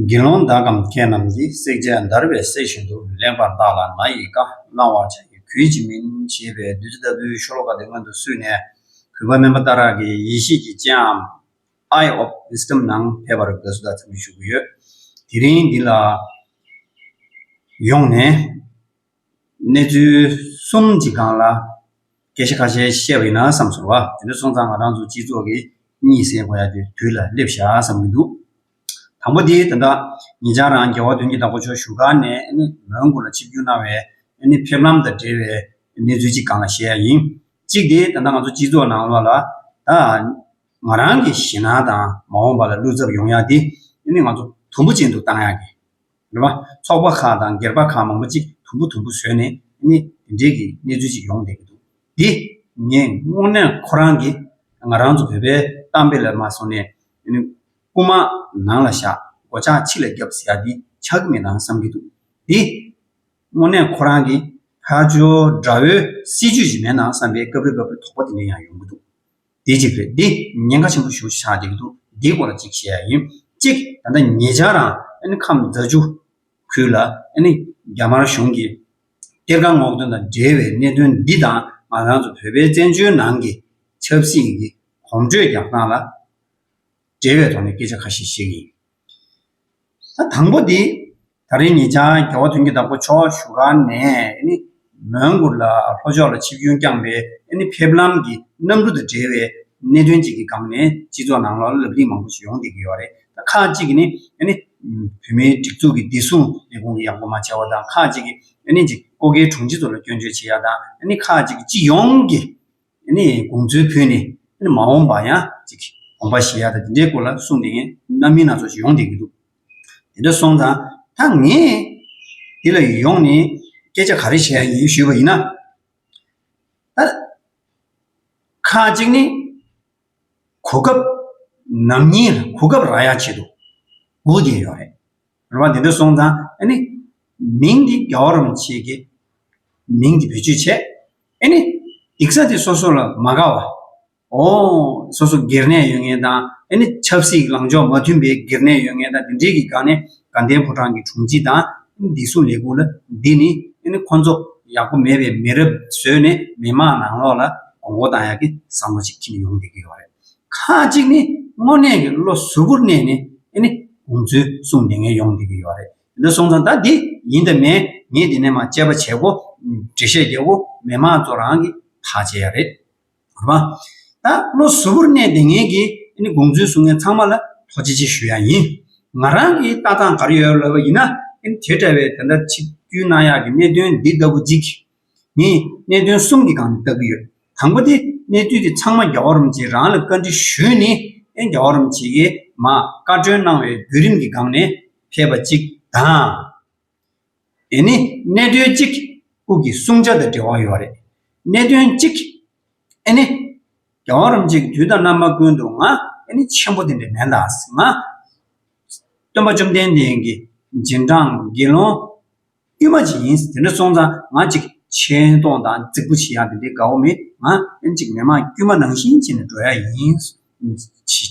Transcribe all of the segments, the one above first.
དགེ་སློང་བདག་གམ་ཁྱེད་རྣམས་ཀྱིས་བསྲེག་བྱ་བརྡར་བའི་སྲེག་བཞིན་དུ་ལེགས་པར་བརྟགས་ལ་ང་ཡི་བཀའ་བླང་བར་བྱ་ཡི་གུས་ཀྱིས་མིན་ཞེས་པའི་བདུད་རྩི་ལྟ་བུའི་ཤོ་ལོ་ཀ་དེ་སྔོན་དུ་བསུས་ནས་གུས་པ་དམན་པ་ལྟ་རག་གིས་ཡེ་ཤེས་ཀྱི་སྤྱན་འམ། Eye of Wisdom ནང་ཕེབས་པར་དགའ་བསུ་དང་འཚམས་འདྲི་ཞུ་གི་ཡོད། དེ་རིང་འདི་ལ་ཡོང་ནས་གནས་ཚུལ་གསུམ་གྱི་སྒང་ལ་སྐད་ཆ་ཁ་ཤས་བཤད་པ་ཡིན་ན་བསམ་ཚོར་བ། དེ་འདྲ་སོང་ཙང་ང་རང་ཚོ་སྤྱི་ཚོགས་ཀྱི་གཉིད་སད་དགོས་ཡག་དུས་དུས་ལ་སླེབས་ཤག་བསམ་གྱི་འདུག་དང་པོ་དེ་ད་ལྟ་ངེད་ཅག་རང་རྒྱལ་བ་དོན་གྱི་བདག་པོ་ཆོས་བཞུགས་སྒར་ནས་མོན་གྷོ་ལ་ཆིབས་བསྒྱུར་གནང་བའི་ཕེབས་ལམ་དང་འབྲེལ་བའི་གནས་ཚུལ་གྱི་སྒང་ལ་བཤད་ཡག་ཡིན། གཅིག་དེ་ད་ལྟ་ང་ཚོ་སྤྱི་ཚོགས་ནང་ལོགས་ལ་ད་ང་རང་གི་ཞེད་སྣང་དང་མ་འོངས་པ་ལ་བློ་འཚབ་ཡོང་ཡག་དེ་ནི་ང་ཚོ་དུམ་བུ་ཅན་དུ་བཏང་ཡག་གི་རེད་པ། ཚོགས་པ་ཁག་དང་སྒེར་པ་ཁག་མང་པོ་གཅིག་དུམ་བུ་དུམ་བུ་བཟོས་ནས་ནི་དེ་འདྲའི་གི་གནས་ཚུལ་ཅིག་ཡོང་བསྡད་ཀྱི་འདུག་དེ་ངས་དངོས་གནས་ཁོ་རང་གི་ང་རང་ཚོ་བོད་པའི་གཏམ་དཔེ་ལ་མ་སོང་ནས་ནི་རྐུ་མ་ནང་ལ་བཞག་སྒོ་ལྕགས་ཕྱི་ལ་རྒྱབ་ཟེར་ཡག་འདི་ཆགས་ཀྱི་མེད་དང་བསམ་གྱི་འདུག་དེ་དངོས་གནས་ཁོ་རང་གི་ཕ་ཇོ་དགྲ་བོའི་སྲིད་ཇུས་ཞིག་མེད་ནང་བསམ་པའི་སྐབས་རེ་སྐབས་རེ་དོགས་པ་དེ་འདྲ་ཡང་ཡོང་གི་འདུག། འདི་གཅིག་རེད་འདི་ཉེན་ཁ་ཆེན་པོ་ཞུ་ཆགས་འདུག་འདིའི་སྐོར་ལ་གཅིག་བཤད་ཡ་ཡིན་གཅིག་ད་ལྟ་ངེད་ཅག་རང་ཁམས་རྫ་ཆུ་ཁུལ་ལ་རྒྱ་དམར་གཞུང་གིས་གཏེར་ཁ་སྔོག་འདོན་དང་འབྲེལ་བའི་གནད་དོན་འདི་དང་ང་རང་ཚོ་བོད་པའི་བཙན་བྱོལ་ནང་གི་ཆབ་སྲིད་ཀྱི་གོམ་བགྲོད་རྒྱག་སྟངས་ལ་འབྲེལ་བའི་ཐོག་ནས་སྐད་ཆ་ཁ་ཤས་བཤད་ཀྱི་ཡིན། ད་དང་པོ་དེ། ད་རེས་ངེད་ཅག་རྒྱལ་བ་དོན་གྱི་བདག་པོ་མཆོག་བཞུགས་ཁང་ནས་མོན་གྷོ་ལ་ལྷོ་ཕྱོགས་ལ་ཆིབས་རྒྱུན་བསྐྱངས་པའི་ཕེབས་ལམ་གྱི་གནམ་གྲུ་དང་འབྲེལ་བའི་གནད་དོན་ཅིག་གི་སྒང་ནས་སྤྱི་ཚོགས་ནང་ལ་ལབ་གླེང་མང་པོ་ཞིག་ཡོང་བསྡད་ཀྱི་ཡོད་རེད། ཁག་ཅིག་གིས་ནི་བོད་མིའི་སྒྲིག་འཛུགས་ཀྱི་བདེ་སྲུང་ལས་ཁུངས་ཀྱི་ཡག་པོ་མ་བྱས་བ་དང་ཁག་ཅིག་གིས་ཀོ་ཁའི་དྲུང་ཆེ་ཚོ་ལ་སྐྱོན་བརྗོད་བྱེད་ཡག་དང་ཁག་ཅིག་གིས་སྤྱི་ཡོངས་ཀྱི་དགོངས་ཚུལ་ཕུལ་ནས་མ་འོངས་པར་ཡང་དགོངས་པ་བཞེས་ཡག་དང་དེ་འདྲའི་སྐོར་ལ་གསུངས་བསྡད་མཁན་གནའ་མི་སྣ་ཚོགས་ཞིག་ཡོང་བསྡད་ཀྱི་འདུག། དེ་འདྲ་སོང་ཙང་ད་ངས་འདི་ལ་ཡོང་ནས་སྐད་ཆ་ག་རེ་བྱས་ཡིན་ཞུས་པ་ཡིན་ན། ད་ཁ་ཅིག་ནི་གོ་སྐབས་ནམ་ཡིན་ལ་གོ་སྐབས་རག་ཡག་བྱེད་དུ་འོས་བསྡད་ཡོད་རེད། རེད་བ། དེ་འདྲ་སོང་ཙང་ཨ་ནི་མིང་འདི་རྒྱ་བོ་རམ་བྱེད་ཀྱི་མིང་འདི་བེད་སྤྱོད་བྱས་ཨ་ནི་སྡིག་ས་དེ་སོ་སོ་ལ་མ་དགའ་བ། སོ་སོ་སྒེར་ནས་ཡོད་ངེས་དང། ཆབ་སྲིད་ལངས་ཕྱོགས་མ་མཐུན་པའི་སྒེར་ནས་ཡོད་ངེས་དང་དེ་འདྲའི་གི་སྒང་ནས་དགའ་ལྡན་ཕོ་བྲང་གི་དྲུང་ཆེ་དང། འདི་སུ་ལས་ཁུངས་ལ་འདི་ནི། ཁོ་ཚོ་ཡག་པོ་མེད་པའི་མི་རབས་བཟོས་ནས་མི་དམངས་ནང་ལོགས་ལ་དགོང་མགོ་བཏང་ཡག་གི་བསམ་བློ་ཅིག་ཁྱིམ་ཡོང་བསྡད་ཀྱི་ཡོད་རེད། ཁ་ཅིག་ནི་དངོས་གནས་ཀྱི་བློ་གཟུ་བོར་གནས་ནས། དགོངས་ཚུལ་གསུངས་བསྡད་ངན་ཡོང་བསྡད་ཀྱི་ཡོད་རེད། དེ་འདྲ་སོང་ཙང་ད་འདི་ཡིན་ད་མེད་ངས་འདི་ནས་མ་དཔྱད་པ་བྱེད་གོ། འགྲེལ་བཤད་རྒྱག་གོ་མི་དམངས་ཚོ་རང་གིས་ཐག་བཅད་ཡག་རེད། གོ་བ། ད་བློ་གཟུ་བོར་གནས་ཏེ་ངེད་ཀྱིས་ཨ་ནི་དགོངས་ཚུལ་གསུང་མཁན་ཚང་མ་ལ་ཐོག་ཅི་ཅི་ཞུ་ཡག་ཡིན། ང་རང་གི་ལྟ་སྟངས་ག་རེ་ཡོད་ལབ་པ་ཡིན་ན་ཨ་ནི་དེ་འདྲ་བའི་དེ་འདྲ་ཆིག་བརྒྱུད་གནང་ཡག་གི་གནད་དོན་འདི་ལྟ་བུ་གཅིག་གིས་ངས་གནད་དོན་གསུམ་གྱི་སྒང་ནས་བལྟ་གི་ཡོད། དང་པོ་དེ་གནས་ཚུལ་དེ་ཚང་མ་རྒྱ་བོ་རོམ་ཅེས་རང་ལ་བཀའ་འདྲི་ཞུས་ནི་ཨ་རྒྱ་བོ་རོམ་ཅེས་ཀྱིས་མ་བཀའ་བཀྲོལ་གནང་བའི་བརྒྱུད་རིམ་གྱི་སྒང་ནས་ཕེབས་པ་གཅིག་དང། འདི་ནི་གནད་དོན་གཅིག་དབུས་ཀྱི་བསྲུང་བྱ་དང་འབྲེལ་བ་ཡོད་རེད། གནད་དོན་གཅིག་ཨེ་ནི། རྒྱལ་བ་རིན་པོ་ཆེ་གི་དུས་དང་རྣམ་པ་ཀུན་ཏུ་ང་ཨེ་ནི་ཆེན་པོ་དེ་འདྲ་མེད་ལ། ང། སྟོན་པ་བཅོམ་ལྡན་འདས་ཀྱི་རྗེས་འབྲང་དགེ་སློང་དབུས་མ་གཅིག་ཡིན་དེ་འདྲ་སོང་ཙང་ང་གཅིག་ཆེ་མཐོང་དང་རྫིག་པོ་བྱེད་ཡག་དེ་འདྲའི་དགའ་བོ་མེད་ང་ཨེ་ནི་གཅིག་མི་དམངས་དཀྱུས་མ་ནང་བཞིན་བྱས་ནས་འགྲོ་ཡག་ཡིན།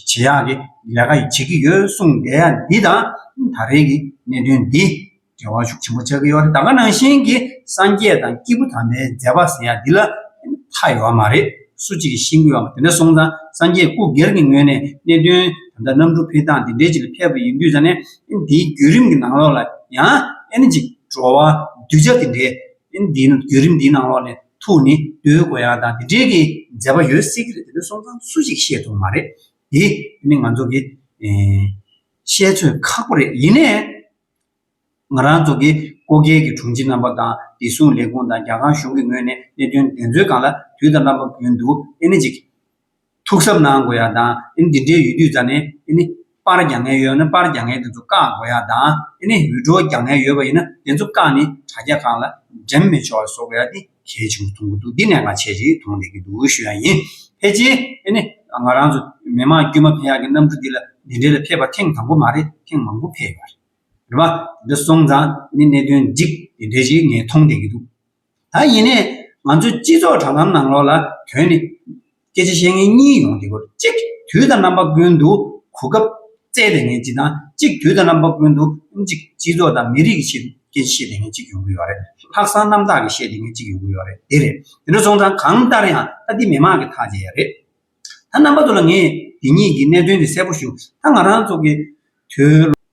ཇེ་ཡག་གི་ལས་ཀ་བྱེད་ཀྱི་ཡོད་གསུངས་བསྡད་ཡ་འདི་དང་ད་རེས་ཀྱི་གནད་དོན་འདི་འབྲེལ་བ་ཤུགས་ཆེན་པོ་ཆགས་ཀྱི་ཡོད་རེད་ད་ག་ནང་བཞིན་གྱི་སངས་རྒྱས་དང་སྐྱེས་བུ་དམ་པའི་མཛད་པ་ཟེར་ཡ་འདི་ལ་མཐའ་ཡོད་པ་མ་རེད་སུ་གཅིག་གིས་ཤེས་དགོས་ཡ་དེ་འདྲ་སོང་ཙང་སངས་རྒྱས་སྐུ་སྒེར་གྱི་ངོས་ནས་གནད་དོན་ད་ལྟ་གནམ་གྲུ་འཕེལ་སྟངས་དེ་འདྲའི་ཅིག་ལ་ཕེབས་པ་ཡིན་དུས་ཙང་ནས་འདིའི་བརྒྱུད་རིམ་གྱི་ནང་ལོགས་ལ་ཡང་ཨེ་ན་ཅིག་བྲོ་བ་གདུལ་བྱ་དེ་འདྲའི། ཨིན་དེའི་ནང་བརྒྱུད་རིམ་འདིའི་ནང་ལོགས་ནས་ཐུག་ནས་རྡོའི་དགོན་ཡང་དང་དེ་འབྲེལ་གྱི་མཛད་པ་ཡོད་སྲིད་ཀྱི་རེད་དེ་ཚོའི་སོང་ཙང་སུ་ཞིག་ཤེས་ཐུབ་མ་རེད་དེ། དེ་ནི་ང་ཚོ་གི་བཤད་ཚོད་ཁག་པོ་རེད་ཡིན་ནའི། ང་རང་ཚོ་གི་ཀོ་རྒྱལ་གྱི་དྲུང་ཆེ་རྣམ་པ་དང་བདེ་སྲུང་ལས་ཁུངས་དང་རྒྱ་གར་གཞུང་གི་ངོས་ནས་གནད་དོན་དེ་ཚོའི་སྒང་ལ་དུས་དང་རྣམ་པ་བུན་འདུག་ཨེ་ནི་ཅིག། ཐུགས་གཟབ་གནང་དགོས་ཡ་དང་འདི་འདྲའི་ཡུལ་དུས་རྩ་ནས་པར་རྒྱག་ངན་ཡོད་ན་པར་རྒྱག་ངན་དེ་ཚོ་བཀག་དགོས་ཡ་དང་འུད་སྒྲོག་རྒྱག་ངན་ཡོད་པ་ཡིན་ན་དེ་ཚོ་བཀག་ནས་དྲ་རྒྱ་ཁག་ལ་འགྲེམས་མི་ཆོག་བཟོ་དགོས་ཡ་དེ་གལ་ཆེན་པོ་མཐོང་གི་འདུག་འདི་ནས་ང་ཆེད་ཅིག་མཐོང་བསྡད་ཀྱི་འདུག་ཞུ་ཡ་ཡིན། ཕལ་ཆེར་ང་རང་ཚོ་མི་མང་དཀྱུས་མ་ཕན་ཡག་གི་གནམ་གྲུ་འདི་ལ་འདི་འདྲའི་ལ་ཕེབས་པ་ཐེངས་དང་པོ་མ་རེད་ཐེངས་མང་པོ་ཕེབས་ཡོད་རེད། རེད་བ། འདི་སོང་ཙང་གནད་དོན་འགྲིག་དེ་འདྲའི་ཞིག་ངས་མཐོང་བསྡད་ཀྱི་འདུག་ད་ཡིན་ནས་ང་ཚོའི་སྤྱི་ཚོགས་དྲ་ལམ་ནང་ལོག་ལ་དོན་ནི། སྐད་ཆ་བཤད་མཁན་གཉིས་ཡོང་དུས་གཅིག་དུས་དང་རྣམ་པ་ཀུན་ཏུ་གོ་སྐབས་བཙལ་བསྡད་མཁན་གཅིག་དང་གཅིག་དུས་དང་རྣམ་པ་ཀུན་ཏུ་གཅིག་སྤྱི་ཚོགས་དང་མི་རིགས་ཀྱི་ཆེད་དུ་སྐད་ཆ་བཤད་བསྡད་མཁན་གཅིག་ཡོང་གི་ཡོད་རེད། ལྷག་བསམ་རྣམ་དག་གིས་བཤད་བསྡད་མཁན་གཅིག་ཡོང་གི་ཡོད་རེད་དེ་རེད། དེ་འདྲ་སོང་ཙང་གང་ལྟར་ཡང་ད་འདི་མི་མང་གི་ཐག་བཅད་ཡ་རེད། ད་རྣམ་པ་ཚོ་ལ་ངས་འདི་གཉིས་ཀྱི་གནད་དོན་འདི་གསལ་པོ་ཞུ་ད་ང་རང་ཚོ་གི་དུས།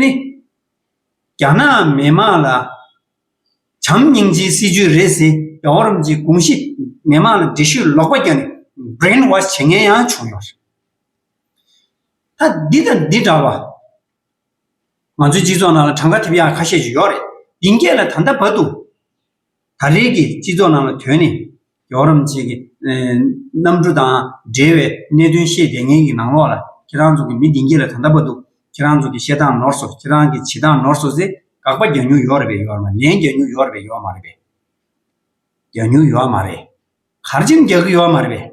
ནི། རྒྱ་ནག་མི་དམངས་ལ་བྱམས་སྙིང་རྗེའི་སྲིད་ཇུས་རེད་ཟེར་རྒྱ་བོད་རམ་ཅིག་གོང་གཞི་མི་དམངས་ལ་འདྲི་ཤོད་ལོག་པ་རྒྱག་ནས Brain Wash བྱེད་མཁན་ཡང་བྱུང་ཡོད་རེད། ད་འདི་དང་འདི་འདྲ་བ། ང་ཚོའི་སྤྱི་ཚོགས་ནང་ལ་གྲངས་ཀ་ཐེབས་ཡག་ཁ་ཤས་ཤིག་ཡོད་རེད། འདི་འགས་ལ་ད་ལྟ་བར་དུ། ད་རེས་ཀྱི་སྤྱི་ཚོགས་ནང་ལ་དོན་ནི། རྒྱ་བོ་རམ་བཅས་ཀྱི། གནམ་གྲུ་དང་འབྲེལ་བའི་གནད་དོན་ཤེས་བསྡད་མཁན་གྱི་ནང་ལོགས་ལ་ཁྱེད་རང་ཚོ་གི་མི་འདི་འགྱེད་ལ་ད་ལྟ་བ་འདུག་ཁྱེད་རང་ཚོ་གི་བཤད་སྟངས་ནོར་སོ་ཁྱེད་རང་གི་བྱེད་སྟངས་ནོར་སོ་ཟེ་དགག་པ་རྒྱག་མྱུར་ཡོག་རེད་པས་ཡོག་རེད་མ་ལན་རྒྱག་མྱུར་ཡོག་རེད་པས་ཡོག་མ་རེད་པས། རྒྱག་མྱུར་ཡོག་མ་རེད། གར་འཆམ་རྒྱག་གི་ཡོག་མ་རེད་པས།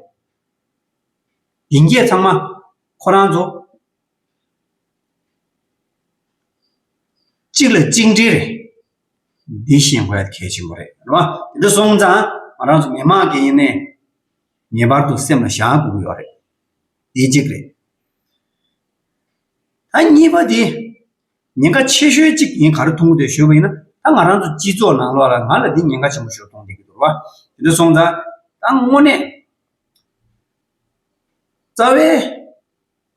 འདི་འགྱེད་ཚང་མ། ཁོ་རང་ཚོ། གཅིག་ལ་གཅིག་འབྲེལ་རེད། འདི་ཤེས་དགོས་གལ་ཆེན་པོ་རེད་རེད་བ། དེ་འདྲ་སོང་ཙང་ང་རང་ཚོ་མི་དམངས་ཀྱི་ནས་ངེས་པར་དུ་སེམས་ལ་བཞག་དགོས་ཀྱི་ཡོད་རེད། དེ་གཅིག་རེད། ད་གཉིས་པ་དེ། ཉེན་ཁ་ཆེ་ཤོས་གཅིག་ངས་ག་རེ་མཐོང་གི་འདུག་ཞོ་པ་ཡིན་ན། ད་ང་རང་ཚོ་སྤྱི་ཚོགས་ནང་ལོགས་ལ་ང་ལ་འདི་ཉེན་ཁ་ཆེན་པོ་ཞོ་མཐོང་བསྡད་ཀྱི་འདུག་བ། དེ་འདྲ་སོང་ཙང། ད་དངོས་གནས། རྩ་བའི།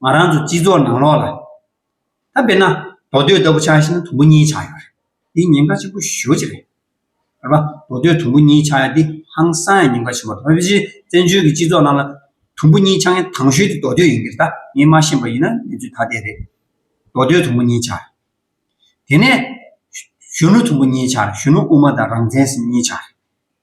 ང་རང་ཚོ་སྤྱི་ཚོགས་ནང་ལོགས་ལ། ད་དཔེར་ན་མདོ་སྟོད་ལྟ་བུ་ཆགས་ཤིང་དུམ་བུ་གཉིས་ཆགས་ཡོད་རེད། འདི་ཉེན་ཁ་ཆེན་པོ་ཞོ་ཅིག་རེད། ཨ་ཕ། མདོ་སྟོད་དུམ་བུ་གཉིས་ཆགས་ཡ་འདི་ཧང་སང་ཡ་ཉེན་ཁ་ཆེན་པོ་རེད། བོད་ཕྱི་བཙན་བྱོལ་གྱི་སྤྱི་ཚོགས་ནང་ལ། དུམ་བུ་གཉིས་ཆགས་མཁན་དང་ཤོས་དེ་མདོ་སྟོད་ཡིན་གྱི་ད་ངས་མ་ཤེས་པ་ཡིན་ན་ངེད་ཚོའི་ད་ལྟའི་རེད། མདོ་སྟོད་དུམ་བུ་གཉིས་ཆགས་རེད། དེ་ནས། གཞོན་ནུ་དུམ་བུ་གཉིས་ཆགས་རེད་གཞོན་ནུ་དབུ་མ་དང་རང་བཙན་ཟེར་གཉིས་ཆགས་རེད།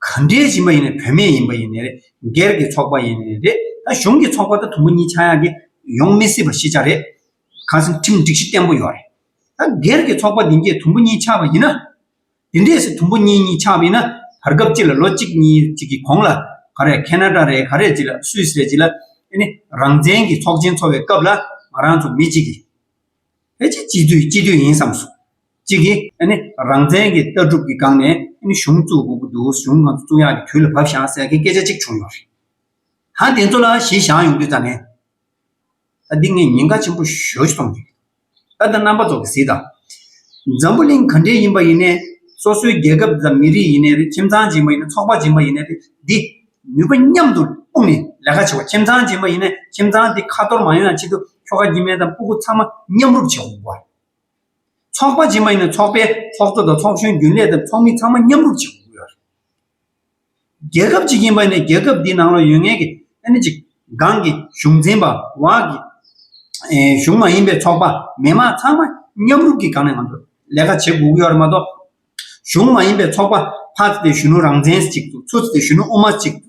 ག་འདྲའི་ཞིང་པ་ཡིན་ནས་བུད་མེད་ཡིན་པ་ཡིན་ནས་རེད་སྒེར་གྱི་ཚོགས་པ་ཡིན་ནས་རེད་ད་གཞུང་གི་ཚོགས་པ་ད་དུམ་བུ་གཉིས་ཆག་ཡག་གི་ཡོང་མི་སྲིད་པ་ཤེས་བྱ་རེད་གང་སེམས་ཁྲིམས་སྒྲིག་གཞི་བརྟན་པོ་ཡོད་རེད་ད་སྒེར་གྱི་ཚོགས་པ་འདི་འདྲས་དུམ་བུ་གཉིས་ཆག་པ་ཡིན་ན་འདི་འདྲས་སུ་དུམ་བུ་གཉིས་གཉིས་ཆག་པ་ཡིན་ན་བར་སྐབས་གཅིག་ལ་ལོ་གཅིག་གཉིས་གཅིག་གི་གོང་ལ་ག་རེ་ཁེ་ན་ཏྲ་རེད་ག་རེ་ཅི་ལ་སུས་རེད་ཅི་ལ་ཨེ་ནི་རང་བཙན་གྱི་ཚོགས་ཆེན་འཚོགས་པའི་སྐབས་ལ་ང་རང་ཚོ་མི་གཅིག་གིས་ཕལ་ཆེར་སྤྱི་འཐུས་སྤྱི་འཐུས་ཡིན་བསམ་སོང། གཅིག་གིས་རང་བཙན་གྱི་ལྟ་གྲུབ་ཀྱི་སྒང་ནས་གཞུང་བཙུགས་དགོས་ཀྱི་འདུག་གཞུང་གང་བཙུགས་ཡག་གི་དུས་ལ་བབས་བཞག་ཟེར་མཁན་སྐད་ཆ་གཅིག་བྱུང་ཡོད་རེད། ད་དེ་ཚོ་ལ་གཞི་བཞག་ཡོང་དུས་ཙམ་མེད། ད་འདི་ངས་ཉེན་ཁ་ཆེན་པོ་ཞོ་ཞིག་མཐོང་གི་རེད། ད་ལྟ་རྣམ་པ་ཚོ་གི་གཟིགས་དང། འཛམ་བུ་གླིང་ག་འདྲའི་ཡིན་པ་ཡིན་ནའི་སོ་སོའི་རྒྱལ་ཁབ་དང་མི་རིགས་ཡིན་ནའི་རེད་ཁྱིམ་ཚང་ཅན་པ་ཡིན་ནའི་ཚོགས་པ་ཅན་པ་ཡིན་ནའི་རེད་འདི་ནུས་པ་མཉམ་དུ་སྤུངས་ནས་ལས་ཀ་བྱེད་དགོས་ཁྱིམ་ཚང་ཅན་པ་ཡིན་ནའི་ཁྱིམ་ཚང་དེ་ཁ་ཐོར་མ་ཡོང་ཡང་ཆེད་དུ་ཁྱོ་ག་གྱི་མེ་དང་སྤུ་གུ་ཚང་མ་མཉམ་རུབ་བྱེད་དགོས་རེད། ཚོགས་པ་རྗེས་མ་ཡིན་ན་ཚོགས་པའི་ཚོགས་གཙོ་དང་ཚོགས་གཞོན་རྒྱུན་ལས་དང་ཚོགས་མི་ཚང་མ་མཉམ་རུབ་བྱེད་དགོས་ཀྱི་རེད། རྒྱལ་ཁབ་ཅིག་ཡིན་པ་ནས་རྒྱལ་ཁབ་འདིའི་ནང་ལ་ཡོད་ངེས་ཀྱི་ཨ་ནི་ཅིག་སྒང་གི་གཞུང་འཛིན་པ་བ་གི་གཞུང་མ་ཡིན་པའི་ཚོགས་པ་མི་དམངས་ཚང་མ་མཉམ་རུབ་ཀྱི་སྒང་ནས་ང་ཚོ་ལས་ཀ་བྱེད་དགོས་ཀྱི་ཡོད་རེད་མ་གཏོགས། གཞུང་མ་ཡིན་པའི་ཚོགས་པ་ཕ་ཚེ་དེ་གཞོན་ནུ་རང་བཙན་ཅིག་ཏུ་ཚུ་ཚེ་དེ་གཞོན་ནུ་དབུ་མ་ཅིག་ཏུ་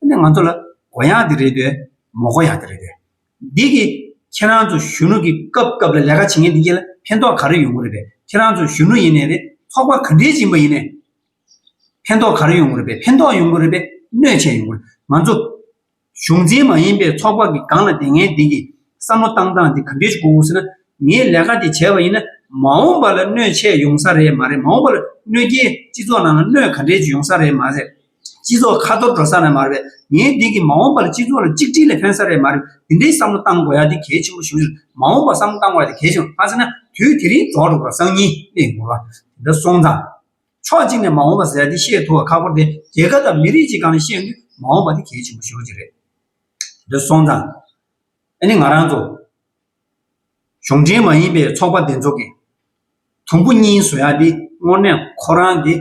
ཨ་ནི་ང་ཚོ་ལ་གོ་ཡང་དེ་རེད་པས་མོ་གོ་ཡང་དེ་རེད་པས། འདི་གི་ཁྱེད་རང་ཚོ་གཞོན་ནུ་གི་སྐབས་སྐབས་ལ་ལས་ཀ་བྱེད་མཁན་དེ་གྱི་ལ་ཕན་ཐོག་ག་རེ་ཡོང་གི་རེད་པས་ཁྱེད་རང་ཚོ་གཞོན་ནུ་ཡིན་ནས་རེད་ཚོགས་པ་ག་འདྲའི་སྦྱིན་པ་ཡིན་ནས་ཕན་ཐོག་ག་རེ་ཡོང་གི་རེད་པས་ཕན་ཐོག་ཡོང་གི་རེད་པས་གནོད་བྱས་ཡོང་གི་རེད་ང་ཚོ་གཞུང་འཛིན་མ་ཡིན་པའི་ཚོགས་པ་གི་སྒང་ལ་དེ་ངའི་དེ་གི་བསམ་བློ་བཏང་སྟངས་དེ་ག་འདྲའི་ཆུ་གོ་ཟེར་ན་ངས་ལས་ཀ་དེ་བྱས་པ་ཡིན་ན་མ་འོངས་པ་ལ་གནོད་བྱས་ཡོང་ས་རེད་མ་རེད་མ་འོངས་པ་ལ་གནོད་རྐྱེན་སྤྱི་ཚོགས་ནང་ལ་གནོད་ག་འདྲའི་ཅིག་ཡོང་ས་རེད་མ་རེད། སྤྱི་ཚོགས་ཁ་ཐོར་འགྲོ་ས་ནས་མ་རེད། ངའི་འདས་ཀྱི་མ་འོངས་པར་སྤྱི་ཚོགས་ལ་གཅིག་སྒྲིལ་ལས་ཕན་ས་རེད་མ་རེད། དེ་འདྲའི་བསམ་བློ་གཏང་དགོས་ཡ་དེ་གལ་ཆེན་པོ་ཞུ་ཡོད། མ་འོངས་པར་བསམ་བློ་གཏང་དགོས་ཡ་དེ་གལ་ཆེན་པོ་མ་ཟེར་ན་དུས་དེ་རིང་རྫོགས་འགྲོ་གི་ར་སང་ཉིན་གནས་དགོས་པ་དེ་འདྲ་སོང་ཙང། ཕྱོགས་གཅིག་ནས་མ་འོངས་པ་ཟེར་ཡ་དེ་བཤད་ཐུབ་བ་ཁག་པོ་དེ་རྒྱལ་ཁབ་དང་མི་རིགས་ཀྱིས་གང་ནས་བཤད་འདུག་མ་འོངས་པ་དེ་གལ་ཆེན་པོ་ཞུ་རྒྱུ་རེད། དེ་འདྲ་སོང་ཙང། ཨ་ནི་ང་རང་ཚོ། གཞུང་འབྲེལ་མ་ཡིན་པའི་ཚོགས་པ་འདི་ཚོ་གིས། དུམ་བུ་གཉིས་བཟོ་ཡ་དེ་དངོས་གནས་ཁོ་རང་དེ།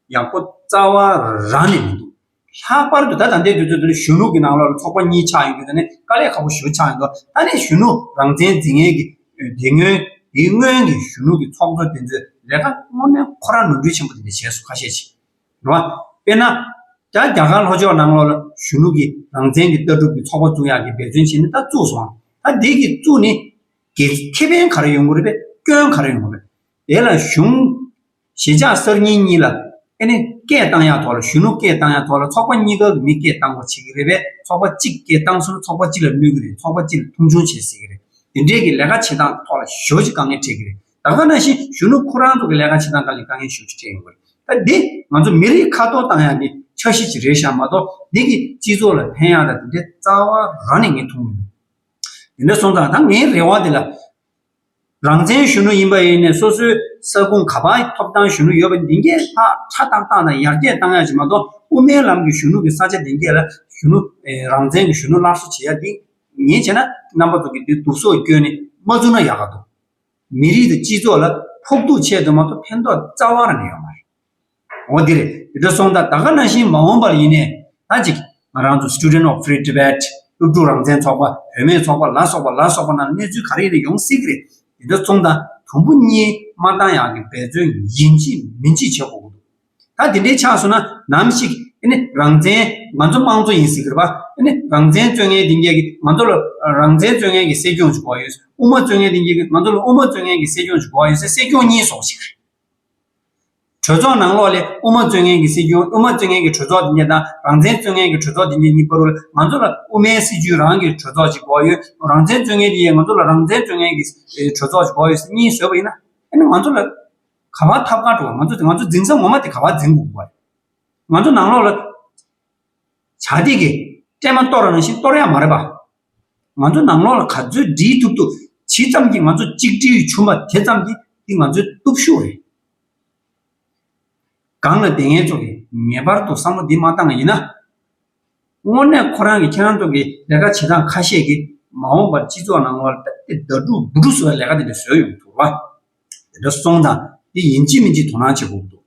ཡག་པོ་རྩ་བ་རང་ནས་མི་འདུག། ལྷག་པར་དུ་ད་ད་ལྟའི་དུས་ཚོད་འདི་ནི་གཞོན་ལུགས་ཀྱི་ནང་ལོགས་ལ་ཚོགས་པ་གཉིས་ཆགས་ཡོད་རྒྱུ་དེ་ནི་དཀའ་ལས་ཁག་པོ་ཞིག་ཏུ་ཆགས་ཡོད་འདུག་ད་ནི་གཞོན་ནུ་རང་བཙན་རྫིག་ངན་གྱི་དེ་སྔོན་དེའི་སྔོན་གྱི་གཞོན་ལུགས་ཀྱི་ཚོགས་གཙོ་དེ་ཚོས་ལས་ཀ་དངོས་གནས་ཁོ་རང་ནོར་འཁྲུལ་ཆེན་པོ་དེ་འདྲ་བྱས་སོང་ཁ་ཤས་ཤིག་རེད། དཔེར་ན། ད་རྒྱ་གར་ལྷོ་ཕྱོགས་ནང་ལོགས་ལ་གཞོན་ལུགས་ཀྱི་རང་བཙན་གྱི་ལྟ་གྲུབ་ཀྱི་ཚོགས་པ་བཙུགས་ཡག་གི་འབད་བརྩོན་བྱས་ནས་ད་བཙུགས་སོང། ད་འདི་གི་བཙུགས་ནས། གལ་ཁེ་ཕན་ག་རེ་ཡོང་གི་རེད་པས་སྐྱོན་ག་རེ་ཡོང་གི་རེད། དེ་ལ་གཞུང། ཞི་འཇགས་གསར་རྙིང་གཉིས་ལ། ཨེ་ནི། སྐད་བཏང་ཡག་ཐོག་ལ་གཞོན་ནུ་སྐད་བཏང་ཡག་ཐོག་ལ་ཚོགས་པ་གཉིས་ཀ་གི་མི་སྐད་བཏང་བ་བྱེད་ཀྱི་རེད་པས་ཚོགས་པ་གཅིག་སྐད་བཏང་ཟུར་ཚོགས་པ་གཅིག་ལ་གནོད་ཀྱི་རེད་ཚོགས་པ་གཅིག་ལ་མཐོང་ཆུང་བྱེད་སྲིད་ཀྱི་རེད་དེ་འདྲའི་གི་ལས་ཀ་བྱེད་སྟངས་ཐོག་ལ་ཞོ་ཞིག་དཀའ་ངལ་འཕྲད་ཀྱི་རེད་ད་ག་ན་བཞིན་གཞོན་ནུ་ཁོ་རང་ཚོ་གི་ལས་ཀ་བྱེད་སྟངས་ཀ་ལས་དཀའ་ངལ་ཞོ་ཞིག་འཕྲད་ཡོང་གི་རེད་ད་འདི་ང་ཚོ་མི་རིགས་ཁ་ཐོར་བཏང་ཡག་གི་འཆར་གཞི་ཞིག་རེད་བཞག་མ་གཏོགས་འདི་གི་སྤྱི་ཚོགས་ལ་ཕན་ཡག་དང་དེ་འདྲའི་རྩ་བ་རང་ནས་ངས་མཐོང་མི་ནུས་དེ་འདྲ་སོང་ཙང་ད་ངའི་རེ་བ་འདི་ལ། རང་བཙན་གཞོན་ནུ་ཡིན་པ་ཡིན་ནས་སོ་སོའི་ས་ཁུངས་ག་པ་ཐོབ་ཐང་གཞོན་ནུ་ཡོད་པ་འདི་འགས་ལྷག་ཆ་ཏག་ཏག་དང་ཡར་རྒྱས་གཏང་ཡ་ཞིག་མ་གཏོགས་དབུ་མའི་ལམ་གྱི་གཞོན་ནུ་གི་ས་ཆ་འདི་འགས་ལ་གཞོན་ནུ། རང་བཙན་གྱི་གཞོན་ནུ་སླར་གསོ་བྱེད་ཡ་འདི་ངས་བྱས་ན་རྣམ་པ་ཚོ་གི་འདི་དུག་སོགས་བསྐྱོན་ནས་མ་བཙུགས་ན་ཡག་ག་འདུག། མི་རིགས་དང་སྤྱི་ཚོགས་ལ་ཕོག་ཐུག་ཆེད་དུ་མ་གཏོགས་ཕན་ཐོག་རྩ་བ་རང་ཡོད་མ་རེད། འོ་དེ་རེད། དེ་འདྲ་སོང་ད་ད་ག་ན་བཞིན་མ་འོངས་པར་ཡིན་ནའི། ད་ཅིག། ང་རང་ཚོ Student of Free Tibet། སློབ་ཕྲུག་རང་བཙན་ཚོགས་པ། བུད་མེད་ཚོགས་པ་ལ་སོགས་པ་ལ་སོགས་པ་རྣམས་གནས་ཚུལ་ག་རེ་ཡིན་ན་ཡོང་སྲིད་ཀྱི་རེད། དེ་འདྲ་སོང་ད་དུམ་བུ་གཉིས་མ་བཏང་ཡག་གི་འབད་བརྩོན་ཡིན་གཅིག་མིན་གཅིག་བྱེད་དགོས་ཀྱི་འདུག། ད་དེ་འདྲའི་ཆགས་སོང་ན་ནམ་ཞིག། ཨེ་ནི་རང་བཙན། ང་ཚོ་དམངས་གཙོ་ཡིན་སྲིད་ཀྱི་རེད་པ། ཨེ་ནི་རང་བཙན་རྩོད་ངན་དེ་འགྱེལ་གྱི་ང་ཚོ་ལ་རང་བཙན་རྩོད་ངན་གྱི་སྲིད་སྐྱོང་ཅིག་དགོས་ཡོད། དབུ་མ་རྩོད་ངན་དེ་འགྱེལ་གྱི་ང་ཚོ་ལ་དབུ་མ་རྩོད་ངན་གྱི་སྲིད་སྐྱོང་ཅིག་དགོས་ཡོད་སའི་སྲིད་སྐྱོང་གཉིས་ཟོག་ཅིག་རེད། གྲོས་ཚོགས་ནང་ལོགས་ལས་དབུ་མ་བཙོན་ངན་གྱི་སྲིད་བྱུས་དབུ་མ་བཙོན་ངན་གྱི་གྲོས་ཚོགས་འདི་ཉིད་དང་རང་བཙན་བཙོན་ངན་གྱི་གྲོས་ཚོགས་འདི་ཉིད་གཉིས་པོར་ང་ཚོ་ལ་དབུ་མའི་སྲིད་བྱུས་རང་གི་གྲོས་ཚོགས་ཀྱི་བགོ་ཡོད་རང་བཙན་བཙོན་ངན་གྱི་ཡང་ང་ཚོ་ལ་རང་བཙན་བཙོན་ངན་གྱི་གྲོས་ཚོགས་ཀྱི་བགོ་ཡོད་ཟེར་གཉིས་བཟོས་པ་ཡིན་ན་ཨ་ནི་ང་ཚོ་ལ་ག་བ་ཐབས་གང་དྲོ་བ་ང་ཚོ་ང་ཚོ་འཛིན་ས་ངོ་མ་དེ་ག་བ་འཛིན་དགོས་པ་རེད། ང་ཚོ་ནང་ལོགས་ལ་བྱ་སྟེགས་ཀྱི་སྤྲེལ་མ་གཏོར་རང་བཞིན་གཏོར་ཡག་མ་རེད་པ། ང་ཚོ་ནང་ལོགས་ལ་ག་ཚོད་འདྲིས་ཐུབ་ཐུབ་ཇི་ཙམ་གྱིས་ང་ཚོ་གཅིག་སྒྲིལ་བྱུང་བ་དེ་ཙམ་གྱིས་འདི་ང་ཚོའི་སྟོབས་ཤུགས་རེད། སྒང་ལ་དེ་ངེད་ཚོ་གིས་ངེས་པར་དུ་བསམ་བློ་འདི་མ་བཏང་བ་ཡིན་ན། དངོས་གནས་ཁོ་རང་གིས་ཁྱེད་རང་ཚོ་གི་ལས་ཀ་བྱེད་སྟངས་ཁ་ཤས་ཀྱིས་མ་འོངས་པར་སྤྱི་ཚོགས་ནང་ལོགས་ལ་དེ་ལྟ་བུའི་དགྲ་དཀྲུག་འབུ་དཀྲུག་བཟོ་བའི་ལས་ཀ་དེ་འདྲ་བཟོས་ཡོང་མི་ཐུབ། དེ་འདྲ་སོང་ཙང་འདི་ཡིན་གཅིག་མིན་གཅིག་དོ་སྣང་བྱེད་དགོས་ཀྱི་འདུག།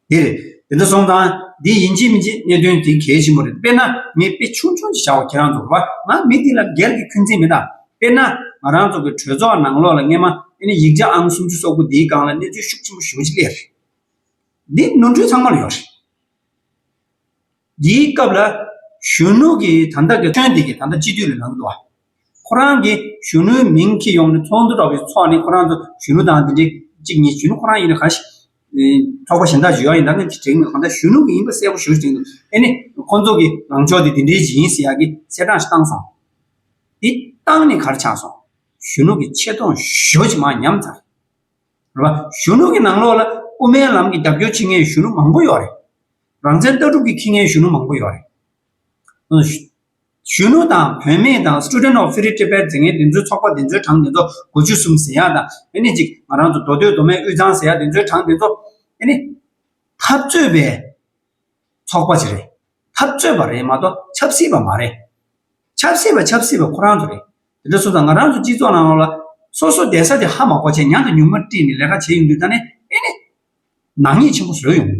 འདིར་འདི་འདྲ་སོང་ཙང་འདི་ཡིན་གཅིག་མིན་གཅིག་གནད་དོན་དེ་གལ་ཆེན་པོ་རེད་དཔེར་ན་ངས་དཔེ་ཆུང་ཆུང་ཞིག་བྱ་བ་ཁྱེད་རང་ཚོ་གོ་ང་མི་འདི་ལ་སྒེར་གྱི་འཁོན་འཛིན་མེད་ད་དཔེར་ན་ང་རང་ཚོ་གི་གྲོས་ཚོགས་ནང་ལོགས་ལ་སྔས་མ་དཔེར་ན་ཡིག་ཆ་ཨང་སུམ་ཅུ་སོ་དགུ་འདིའི་སྒང་ལ་གནས་ཚུལ་ཤུགས་ཆེན་པོ་ཞུ་གི་ཅིག་ལེ་རེད་འདི་ནོར་འཁྲུལ་ཚང་མར་ཡོད་རེད། འདིའི་སྐབས་ལ། གཞོན་ནུ་གིས་ད་ལྟ་གི་ཁྱོད་འདི་གིས་ད་ལྟ་སྤྱི་འཐུས་ལ་ལངས་འདུག་ཨ། ཁོ་རང་གིས་གཞོན་ནུའི་མིང་ཁྱེར་ཡོང་ནས་ཚོགས་འདུ་གྲོགས་པོའི་ཚོགས་ནས་ཁོ་རང་ཚོ་གཞོན་ནུ་དང་འདི་འདྲའི་གཅིག་གཉིས་གཞོན་ནུ་ཁོ་རང་ཡིན་ན་གང་ཞིག། ཚོགས་པ་གཞན་དག་བརྗོད་ཡ་ཡིན་ད་ངས་དྲན་མེད་གང་ལྟར་གཞོན་ནུ་གིས་ཡིན་པ་གསལ་པོ་ཞུ་རྒྱུ་འདུག་ཨེ་ནས་ཁོ་ཚོ་གི་ལངས་ཕྱོགས་འདི་འདི་འདྲའི་ཞིག་ཡིན་ཟེར་ཡག་གི་གསལ་བསྒྲགས་ཤིག་བཏང་སོང། འདི་བཏང་ནས་གར་ཆགས་སོང། གཞོན་ནུ་གིས་ཆེ་མཐོང་ཞོ་ཅིག་མ་ཉམས་ཚར། རེད་པ། གཞོན་ནུ་གི་ནང་ལོགས་ལ་དབུ་མའི་ལམ་གྱི་རྒྱབ་སྐྱོར་བྱེད་མཁན་གཞོན་ནུ་མང་པོ་ཡོད་རེད། རང་བཙན་ལྟ་གྲུབ་ཀྱི་ཁྱི་ངན་གཞོན་ནུ་མང་པོ་ཡོད་རེད། གཞོན་ནུ་དང་བུད་མེད་དང Student of Free Tibet འཛིན་མཁན་དེ་ཚོའི་ཚོགས་པ་དེ་ཚོའི་གྲངས་དེ་ཚོ་གོ་ཆོད་གསུམ་ཟེར་ཡག་དང་ཨཱ་ནི་གཅིག་ང་རང་ཚོ་མདོ་སྟོད་མདོ་སྨད་དབུས་གཙང་ཟེར་ཡག་དེ་ཚོའི་གྲངས་དེ་ཚོ་ཨཱ་ནི། འཐབ་རྩོད་པའི་ཚོགས་པ་ཞིག་རེད། འཐབ་རྩོད་པ་རེད་མ་གཏོགས་ཆབ་སྲིད་པ་མ་རེད། ཆབ་སྲིད་པ་ཆབ་སྲིད་པ་ཁོ་རང་ཚོ་རེད། དེ་འདྲ་སོང་ཙང་ང་རང་ཚོ་སྤྱི་ཚོགས་ནང་ལ་སོ་སོ་གདན་ས་དེ་ཧ་མ་གོ་ཆེད་ཉང་དུ་ཉུང་མ་བཀྲིས་ནས་ལས་ཀ་བྱས་ཡོང་དུས་ད་ནི་ཨཱ་ནི། ནག་ཉེས་ཆེན་པོ་བཟོས་ཡོང་གི་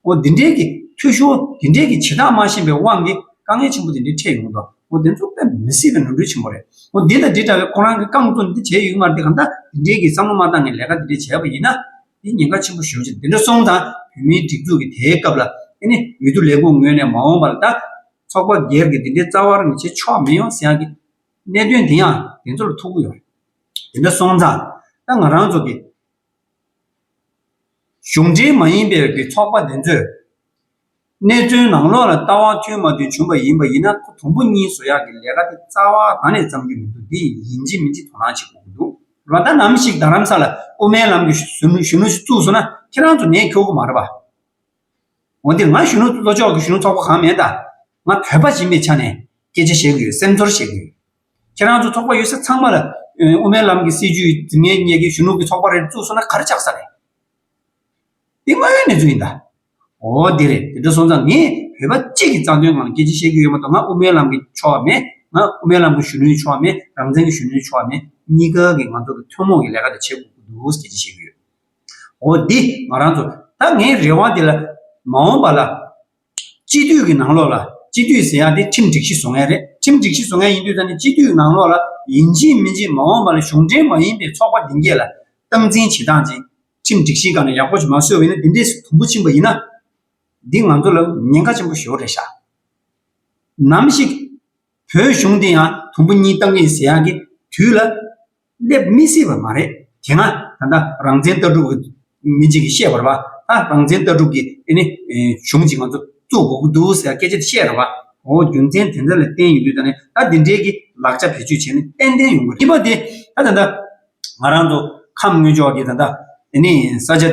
འདུག་འདི་འདྲའི་གི་འཐུས་ཤོར་འདི་འདྲའི་གི་བྱེད་སྟངས་མ་ཤེས་པའི་དབང་གིས་དཀའ་ངལ་ཆེན་པོ་འདི་འདྲའི་འཕྲད་ཡོང་གི་འདུག་འདི་ཚོ་དཔེ་མི་སྲིད་པའི་ནོར་འཁྲུལ་ཆེན་པོ་རེད་འདི་དང་འདི་འདྲ་བའི་ཁོ་རང་གི་རྐང་བཙུགས་འདི་བྱས་ཡོད་མ་རེད་དེ་གང་ལྟར་འདི་འདྲའི་གི་བསམ་བློ་མ་བཏང་ནས་ལས་ཀ་འདི་འདྲའི་བྱས་པ་ཡིན་ན་འདི་ཉེན་ཁ་ཆེན་པོ་ཞོར་ཅིག་འདི་འདྲ་སོང་དང་བོད་མིའི་སྒྲིག་འཛུགས་ཀྱི་དེའི་སྐབས་ལ་ཨེ་ནི་འོས་བསྡུ་ལས་ཁུངས་ངོས་ནས་མ་འོངས་པར་ད་ཚོགས་པ་སྒེར་གི་འདི་འདྲའི་རྩ་བར་མི་བྱེད་ཆོག་མི་ཡོང་ཟེར་ཡང་གི་གནད་དོན་འདི་ཡང་དེ་ཚོ་ལ་ཐུག་གི་ཡོད་རེད་འདི་འདྲ་སོང་ཙང་ད་ང་རང་ཚོ་གི་གཞུང་འབྲེལ་མ་ཡིན་པའི་གི་ཚོགས་པ་འདི་ཚོས། གནས་ཚུལ་ནང་ལོགས་ལ་ལྟ་བ་མཐུན་མ་མཐུན་བྱུང་བ་ཡིན་པ་ཡིན་ན་ཁོ་དང་པོ་གཉིས་བཟོ་ཡག་གི་ལས་ཀ་དེ་རྩ་བ་གང་ནས་བརྩམ་རྒྱུ་མི་འདུག་འདི་ཡིན་གཅིག་མིན་གཅིག་དོ་སྣང་བྱེད་དགོས་ཀྱི་འདུག་ལོ་ཟླ་ནམ་ཞིག་རྡ་རམ་ས་ལ་དབུ་མའི་ལམ་གྱི་གཞོན་ནུ་ཞིག་བཙུགས་སོང་ན་ཁྱེད་རང་ཚོ་ནད་ཁྱོ་གུ་མ་རེད་པ། འོན་ཏེ་ང་གཞོན་ནུ་ལྷོ་ཕྱོགས་ཀྱི་གཞོན་ནུ་ཚོགས་པ་གང་མེད་ད། ང་བོད་པ་ཡིན་པའི་ཆ་ནས་སྐད་ཆ་བཤད་གི་ཡོད་སེམས་ཚོར་བཤད་གི་ཡོད། ཁྱེད་རང་ཚོ་ཚོགས་པ་ཡོད་སར་ཚང་མ་ལ། དབུ་མའི་ལམ་གྱི་སྲིད་ཇུས་འཛིན་མཁན་གཉིས་ཀྱི་གཞོན་ནུ་གྱི་ཚོགས་པ་རེད་བཙུགས་སོང་ན་ག་རེ་ཆགས་ས་རེད། འདི་དངོས་ཡོད་གནས་ཚུལ་ཡིན་ད། འོ་དེ་རེད་དེ་འདྲ་སོང་ཙང་ངས་བོད་པ་གཅིག་གི་རྩ་དོན་ངང་སྐད་ཆ་བཤད་རྒྱུ་ཡོད་མ་གཏོགས་ང་དབུ་མའི་ལམ་གྱི་ཕྱོགས་མེད། ང་དབུ་མའི་ལམ་གྱི་གཞོན་ནུའི་ཕྱོགས་མེད་རང་བཙན་གྱི་གཞོན་ནུའི་ཕྱོགས་མེད་གཉིས་ཀ་གི་ང་ཚོ་གི་ཐུན་མོང་གི་ལས་ཀ་དེ་བྱེད་དགོས་ཀྱི་འདུག་སྐད་ཆ་བཤད་རྒྱུ་ཡོད། འོ་འདི་ང་རང་ཚོ་ད་ངའི་རེ་བ་འདི་ལ། མ་འོངས་པ་ལ། སྤྱི་འཐུས་ཀྱི་ནང་ལོགས་ལ་སྤྱི་འཐུས་ཟེར་ཡག་དེ་ཁྲིམས་སྒྲིག་གཞི་བཟོ་མཁན་རེད་ཁྲིམས་སྒྲིག་གཞི་བཟོ་མཁན་ཡིན་དུས་ད་ནི་སྤྱི་འཐུས་ནང་ལོགས་ལ་ཡིན་གཅིག་མིན་གཅིག་མ་འོངས་པ་ལ་གཞུང་འབྲེལ་མ་ཡིན་པའི་ཚོགས་པ་འདི་འགས་ལ་སྟངས་འཛིན་བྱེད་སྟངས་ཅན་ཁྲིམས་སྒྲིག་གཞིའི་སྒང་ལ་ཡག་པོ་ཞིག་མ་བཟོས་བས་ན་འདི་འདྲས་སུ་དུམ་བུ་ཕྱིན་པ་ཡིན་ན། འདི་ང་ཚོ་ལ་ཉེན་ཁ་ཆེན་པོ་ཞོར་རེད་ཤག་ནམ་ཞིག་བོད་གཞུང་འདི་ཡང་དུམ་བུ་གཉིས་བཏང་གི་ཡིན་ཟེར་ཡག་གི་དུས་ལ། སླེབས་མི་སྲིད་པ་མ་རེད་དེ་སྔ་ད་ལྟ་རང་བཙན་ལྟ་གྲུབ་ཀྱི་མི་གཅིག་གིས་བཤད་པར་བ་ད་རང་བཙན་ལྟ་གྲུབ་ཀྱི་ནི་གཞུང་གཅིག་ང་ཚོ་བཙུགས་དགོས་ཀྱི་འདུག་ཟེར་སྐད་ཆ་དེ་བཤད་ར་བ་འོ་རྒྱུ་མཚན་དེ་འདྲ་ལ་བརྟེན་ཡིན་དུས་ད་ནས་ད་འདི་འདྲའི་གི་ལག་ཆ་བེད་སྤྱོད་བྱས་ནས་ཏན་ཏན་ཡོང་གི་རེད་པ་དེ་ད་ད་ད་ང་རང་ཚོ་ཁམས་དངུལ་ལྕོག་གི་ད་ད་ནི་ས་ཆ་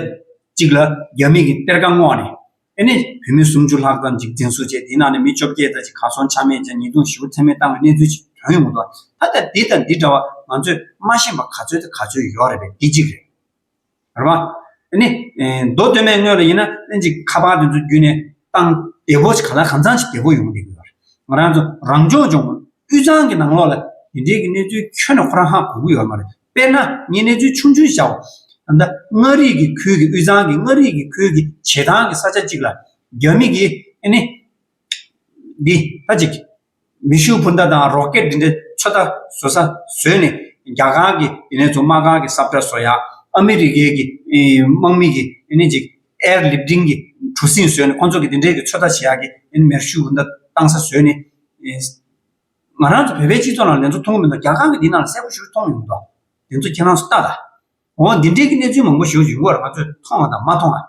གཅིག་ལ་རྒྱ་མིས་གི་གཏེར་ཁ་བསྔོགས་ནས་དེ་ནས་བོད་མི་སུམ་ཅུ་ལྷག་ཙམ་འཇིག་རྟེན་གསོ་བྱས་དེའི་ནང་ནས་མི་བཅོ་བརྒྱད་ཙམ་ཞིག་གར་སོང་ཆ་མེད་ཅིང་ཉེས་རྡུང་ཞི་བ་ཚད་མེད་བཏང་བའི་གནས་ཚུལ་ཞིག་བྱུང་ཡོང་གི་འདུག་ད་ལྟ་འདི་དང་འདི་འདྲ་བ་ང་ཚོས་མ་ཤེས་པ་ག་ཚོད་དང་ག་ཚོད་ཡོད་རེད་པས་འདི་གཅིག་རེད། རེད་མ། དེ་ནས་མདོ་སྟོད་སྨད་དངོས་ལ་ཡིན་ན་ལྷན་ཅིག་ཁ་པར་དེ་ཚོ་བརྒྱུད་ནས་བཏང་བདེ་བོ་ཞིག་ག་ལ་གང་ཚང་ཞིག་བདེ་བོ་ཡོང་གི་འདུག་རེད། ང་རང་ཚོ་རང་སྐྱོང་ལྗོངས་དབུས་གཙང་གི་ནང་ལོགས་ལ་དེ་འདྲའི་གི་གནས་ཚུལ་ཁྱོན་ནས་ཁོ་རང་ཧ་གོ་གི་ཡོད་མ་རེད། དཔེར་ན་ངས་གནས་ཚུལ་ཆུང་ཆུང་བྱའོ། ད་ལྟ་མངའ་རིས་ཀྱི་ཁུལ་གྱི་དབུས་གཙང་གི་མངའ་རིས་ཀྱི་ཁུལ་གྱི་བྱེ་ཐང་གི་ས་ཆ་གཅིག་ལ། རྒྱ་མི་གིས་ཨེ་ནི། འདི་ལྟ་ཅིག། མེ་ཤུགས་འཕུར་མདའ་དང་རོ་ཀེད་འདི་འདྲའི་ཚོད་ལྟ་བཟོ་ས་བཟོས་ནས། རྒྱ་གང་གི་དེ་ནས་བཟུང་དམག་ཁང་གི་སྲབ་གྲ་བཟོ་ཡག། ཨ་མི་རི་ཀའི་གི་དམག་མི་གིས་ཨེ་ནི་ཅིག། Air Lifting། གི་གྲུ་གཟིངས་བཟོས་ནས་ཁོ་ཚོ་གིས་འདི་འདྲའི་གི་ཚོད་ལྟ་བྱེད་ཡག་གི་ཨེ་ནི་མེར་ཤུགས་འཕུར་མདའ་བཏང་ས་བཟོས་ནས། ང་རང་ཚོ་བོད་པའི་སྤྱི་ཚོགས་ནང་དེ་ཚོ་མཐོང་མི་འདུག་རྒྱ་གར་གྱི་འདི་ནང་ལ་གསལ་པོ་ཞུ་མཐོང་ཡོང་མདོག་དེ་ཚོ་ཁྱེད་རང་ཚོ་ལྟ་ལ། འོ་འདི་འདྲའི་གི་གནས་ཚུལ་མང་པོ་ཞོག་ཡུལ་སྐོར་ང་ཚོས་མཐོང་བ་དང་མ་མཐོང་བ།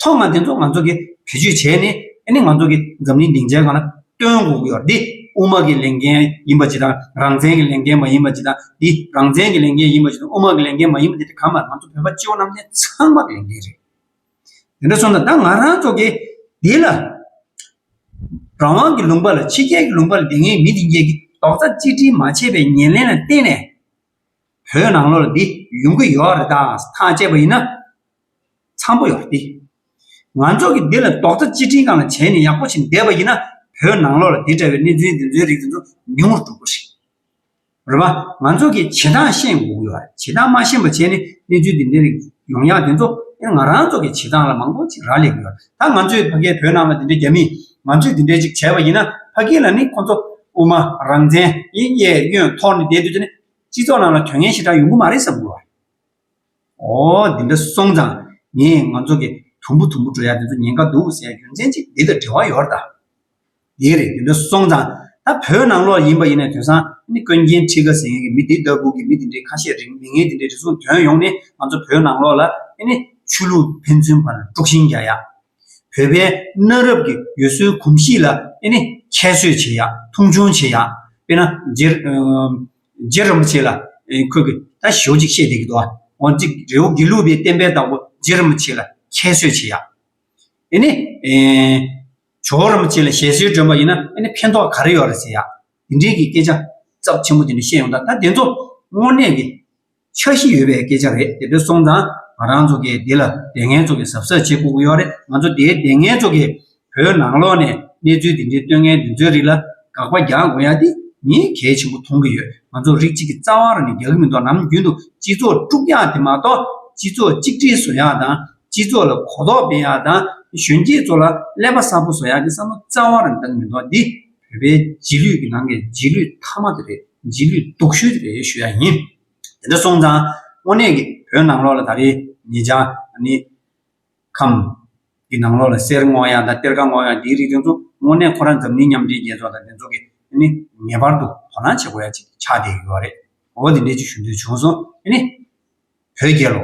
ཐོག་མར་དེ་ཚོ་ང་ཚོ་གི་བེད་སྤྱོད་བྱས་ནས་ཨཱ་ནི་ང་ཚོ་གི་འཛམ་གླིང་སྡིངས་ཆའི་སྒང་ལ་སྟོན་དགོས་ཀྱི་ཡོད་དེ་དབུ་མ་གི་ལས་འགན་ཡིན་པ་ཇི་ལྟར་རང་བཙན་གྱི་ལས་འགན་མ་ཡིན་པ་ཇི་ལྟར་འདི་རང་བཙན་གྱི་ལས་འགན་ཡིན་པ་ཇི་ལྟར་དབུ་མ་གི་ལས་འགན་མ་ཡིན་པ་དེ་དེ་གང་མ་རེད་ང་ཚོ་བོད་པ་སྤྱི་བོ་རྣམས་ནས་ཚང་མ་གི་ལས་འགན་རེད། དེ་འདྲ་སོང་ན་ད་ང་རང་ཚོ་གི་འདི་ལ་རང་དབང་གི་ལུང་པ་ལ་ཕྱི་རྒྱལ་གྱི་ལུང་པ་ལ་འདི་ངའི་མི་འདི་འགྱེད་ཀྱི་རྡོག་རྩ་གཅིག་སྒྲིལ་མ་བྱས་པའི་ཉེར་ལེན་ལ་བརྟེན་ནས་བོད་ནང་ལོག་ལ་འདི་ཡོང་གི་ཡོག་རེད་དང་ཐང་བཅད་པ་ཡིན་ན་འཚམས་པོ་ཡོག་འདི་ང་ཚོ་གི་འདི་ལ་རྡོག་རྩ་གཅིག་སྒྲིལ་གང་ལ་བྱས་ནས་ཡག་པོ་བྱས་འདེད་པ་ཡིན་ན་བོད་ནང་ལོག་ལ་འདི་འདྲ་བའི་གནས་ཚུལ་འདི་ཚོའི་རིགས་འདི་ཚོ་ཉུང་རུ་འགྲོ་དགོས་རེད། རེད་མ། ང་ཚོ་གི་བྱེད་སྟངས་ཤེས་དགོས་ཀྱི་ཡོད་བྱེད་སྟངས་མ་ཤེས་པ་བྱས་ནས་གནས་ཚུལ་འདི་འདྲའི་རིགས་ཡོང་ཡག་དེ་ཚོ་ཨེ་ང་རང་ཚོ་གི་བྱེད་སྟངས་ལ་མང་པོ་ཅིག་རག་ལས་ཀྱི་ཡོད་ད་ང་ཚོའི་ཕ་གའི་བོད་ནང་ལ་འདི་འདྲའི་རྒྱ་མིས་ང་ཚོས་འདི་འདྲའི་ཅིག་བྱས་པ་ཡིན་ན་ཕ་གི་ལ་ནི་ཁོ་ཚོ་དབུ་མ་རང་བཙན་ཡིན་གཡས་གཡོན་ཐོག་ནས་བསྡད་དུས་ཚོད་ནས་སྤྱི་ཚོགས་ནང་ལ་དོན་ངན་ཞེ་དྲག་ཡོང་གི་མ་རེད་བསམ་དགོས། ཨོ། འདི་འདྲ་སོང་ཙང་ངས་ང་ཚོ་གི་དུམ་བུ་དུམ་བུ་འགྲོ་ཡག་དེ་ཚོ་ཉེན་ཁ་འདུག་ཟེར་རྒྱུ་མཚན་ཅི་འདི་ལ་འབྲེལ་བ་ཡོད་རེད་ད། དེ་རེད་འདི་འདྲ་སོང་ཙང་ད་བོད་ནང་ལོགས་ཡིན་པ་ཡིན་ནས་དོན་སང་ནི་ཀོན་རྒྱན་ཁྲི་ཀ་ཟེར་མཁན་གྱི་མི་དེ་ལྟ་བུ་གི་མི་དེ་འདྲའི་ཁ་བཤད་རིགས་མི་ངན་དེ་འདྲའི་རེ་ཟུང་དོན་ཡོང་ནས་ང་ཚོ་བོད་ནང་ལོགས་ལ་ཨེ་ནི་ཆོས་ལུགས་ཕན་ཚུན་བར་དཀྲུག་ཤིང་རྒྱག་ཡག། བོད་པའི་གནའ་རབས་ཀྱི་ཡུལ་སྲོལ་གོམས་གཤིས་ལ་ཨེ་ནི་ཁྱད་གསོད་བྱེད་ཡག་མཐོང་ཆུང་བྱེད་ཡག་དཔེར་ན་རྗེ། རྗེ་རིན་པོ་ཆེ་ལ་ཁོས་ཀྱི་ད་ཞོ་ཅིག་བཤད་བསྡད་ཀྱི་འདུག་ཨ། འོན་ཅིག་རེ་བོ་དགེ་ལུགས་པའི་བསྟན་པའི་བདག་པོ་རྗེ་རིན་པོ་ཆེ་ལ་ཁྱད་གསོད་བྱེད་ཡ། ཨེ་ནས། ཇོ་བོ་རིན་པོ་ཆེ་ལ་ཞལ་བཞེས་སྒྲོན་པ་ཡིན་ན་ཨེ་ནས་ཕན་ཐོག་ག་རེ་ཡོད་རེད་ཟེར་ཡ། དེ་འདྲའི་གྱི་སྐད་ཆ། ཚབ་ཆེན་པོ་དེ་འདྲ་བཤད་ཡོང་ད་ད་དེ་ཚོ་དངོས་གནས་ཀྱི། འཆར་གཞི་ཡོད་པའི་སྐད་ཆ་རེད་དེ་འདྲ་སོང་ཙང་ང་རང་ཚོ་གིས་འདི་ལ་དེ་ངན་ཚོ་གིས་གཟབ་གཟབ་བྱེད་དགོས་ཀྱི་ཡོད་རེད་ང་ཚོ་དེའི་དེ་ངན་ཚོ་གིས་བོད་ནང་ལོག་ནས་གནས་ཚུལ་དེ་འདྲའི་ལྟོས་ངན་འདི་ཚོའི་རིགས་ལ་དགག་པ་རྒྱག་དགོས་ཡ་དེ་ངས་གལ་ཆེན་པོ་མཐོང་གི་ཡོད་ང་ཚོ་རིགས་གཅིག་གི་རྩ་བ་རང་ནས་རྒྱག་གི་མི་འདུག་ནམ་རྒྱུན་དུ་སྤྱི་ཚོགས་དཀྲུག་ཡག་དེ་མ་གཏོགས་སྤྱི་ཚོགས་གཅིག་སྒྲིལ་བཟོ་ཡག་དང་སྤྱི་ཚོགས་ལ་གོ་རྟོགས་སྤེལ་ཡག་དང་གཞོན་སྐྱེས་ཚོ་ལ་ཀླད་པ་གསར་པོ་བཟོ་ཡག་གི་བསམ་བློ་རྩ་བ་རང་བཏང་མི་འདུག་འདི། བོད་པའི་རྗེས་ལུས་ཀྱི་ནང་གི་རྗེས་ལུས་མཐའ་མ་དེ་རེད་རྗེས་ལུས་སྡུག་ཤོས་དེ་རེད་ཞུ་ཡག་ཡིན། དེ་འདྲ་སོང་ཙང་དངོས་གནས་ཀྱི་བོད་ནང་ལོག་ལ་ད་རེས་ངེད་ཅག་ནི། ཁམས། ཀྱི་ནང་ལོག་ལ་གསེར་བསྔོག་ཡག་དང་གཏེར་ཁ་བསྔོག་ཡག་འདིའི་རིགས་དེ་ཚོ་དངོས་གནས་ཁོ་རང་འཛམ་གླིང་མཉམ་འབྲེལ་རྒྱལ་ཚོགས་དང་དེ་ཚོ་གི་ནི་ངེས་པར་དུ་དོ་སྣང་བྱེད་དགོས་ཡག་ཅིག་ཆགས་བསྡད་ཡོད་རེད་འོ་དེ་འདྲས་ཅིག་ཞུ་འདོད་བྱུང་སོང་ཨེ་ནི། བོད་རྒྱལ་ལོ།